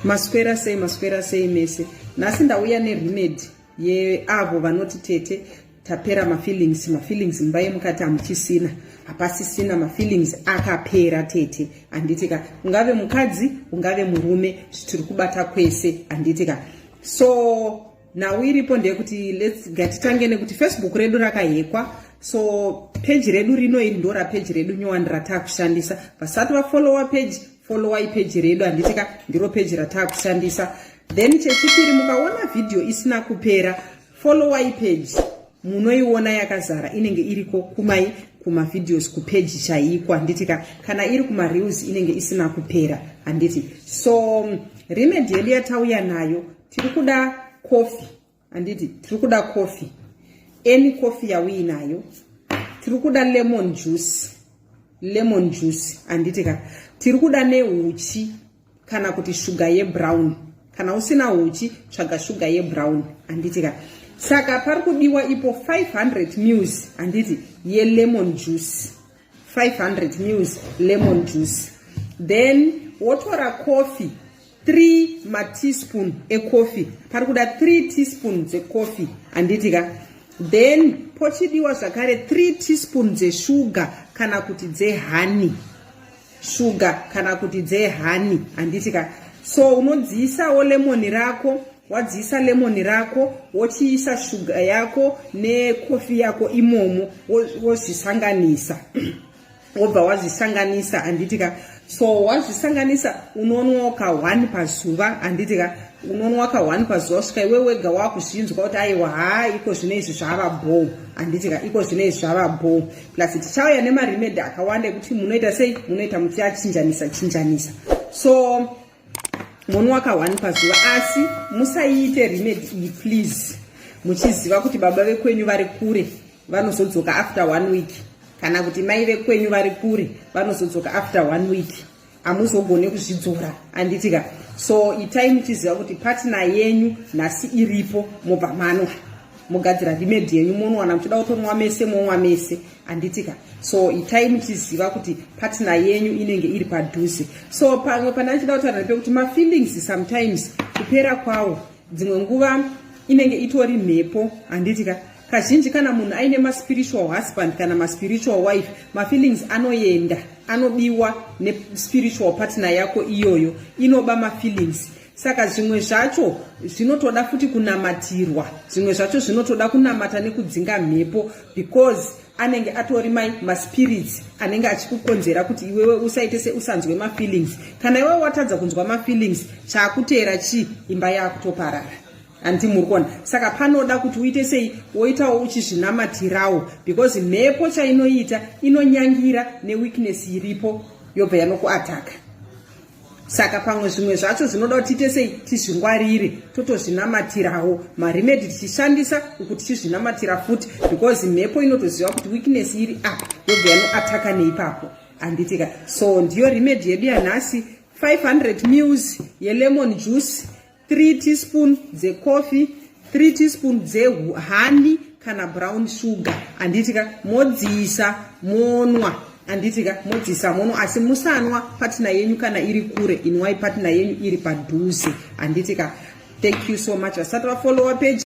Maswera sei maswera sei mese. Nhasi ndauya neremedy yeavo vanoti tete tapera mafeelings mafeelings mumba yemukati hamuchisina hapasisina mafeelings akapera tete handiti ka ungave mukadzi ungave murume zvitiri kubata kwese handiti ka so nhau iripo ndeyekuti lets gatitange nekuti facebook redu rakahekwa so peji redu rino iri ndora peji redu nyowani ratakushandisa vasati vafolowa peji followai peji redu handiti ka ndiro peji rataakushandisa then chechipiri mukaona vhidhiyo isina kupera followai peji munoiona yakazara inenge iriko kumai kumavhidhios kupeji chaiko handiti ka kana iri kumareels inenge isina kupera handiti so remedi yedu yatauya nayo tiri kuda coffee handiti tiri kuda coffee any coffee yauinayo tiri kuda lemon juice lemon juice handiti ka tiri kuda neuchi kana kuti shuga yebrown kana usina uchi tsvaga shuga yebrown handiti ka saka pari kudiwa ipo 500 mils handiti yelemon juice 500 mils lemon juice then wotora coffee 3 mateaspoon ecoffee pari kuda 3 teaspoon dzecoffee handiti ka then pochidiwa zvakare 3 teaspoon dzeshuga kana kuti dzehani shuga kana kuti dzehani handiti ka so unodziisawo lemoni rako wadziisa lemoni rako wochiisa shuga yako nekofi yako imomo wozvisanganisa wobva wazvisanganisa handiti ka so wazvisanganisa unonwa ka one pazuva handiti ka unonwa ka one pazuva svika iwe wega wakuzvinzwa kuti aiwa haa iko zvino izvi zvava bho handiti ka iko zvino izvi zvava bho plus tichauya nemaremedi akawanda ekuti munoita sei munoita muchiachinjanisa chinjanisa so monwaka one pazuva asi musaiite remedy iyi please muchiziva kuti baba vekwenyu vari kure vanozodzoka after one week kana kuti mai vekwenyu vari kure vanozodzoka after one week hamuzogone kuzvidzora anditika so itai muchiziva kuti patina yenyu nhasi iripo mobva manwa mogadzira remedy yenyu monwana muchida kutonwa mese monwa mese anditika so itai muchiziva kuti patina yenyu inenge iri padhuze so pamwe pane achida kutaura nepekuti mafeelings sometimes kupera kwawo dzimwe nguva inenge itori mhepo handitika kazhinji kana munhu aine maspiritual husband kana maspiritual wife mafeelings anoenda anodiwa nespiritual partner yako iyoyo inoba mafeelings saka zvimwe zvacho zvinotoda futi kunamatirwa zvimwe zvacho zvinotoda kunamata nekudzinga mhepo because anenge atori mai maspirits anenge achikukonzera kuti iwewe usaite seusanzwe mafeelings kana iwewe watadza kunzwa mafeelings chaakuteera chii imba yaakutoparara handi muri kuona saka panoda kuti uite sei woitawo uchizvinamatirawo because mhepo chainoita inonyangira neweakness iripo yobva yanokuataka saka pamwe zvimwe zvacho zvinoda kuti tiite sei tizvingwarire totozvinamatirawo maremedi tichishandisa uku tichizvinamatira futi because mhepo inotoziva kuti weakness iri a ah, yobva yanoataka neipapo anditika so ndiyo remedi yedu yanhasi 500 mills yelemon juice 3 teaspoon dzecoffee 3 teaspoon dzehani kana brown sugar handiti ka modziisa monwa handiti ka modziisa monwa asi musanwa patina yenyu kana iri kure inwai patina yenyu iri padhuze handiti ka thank you so much vasati vafolowa page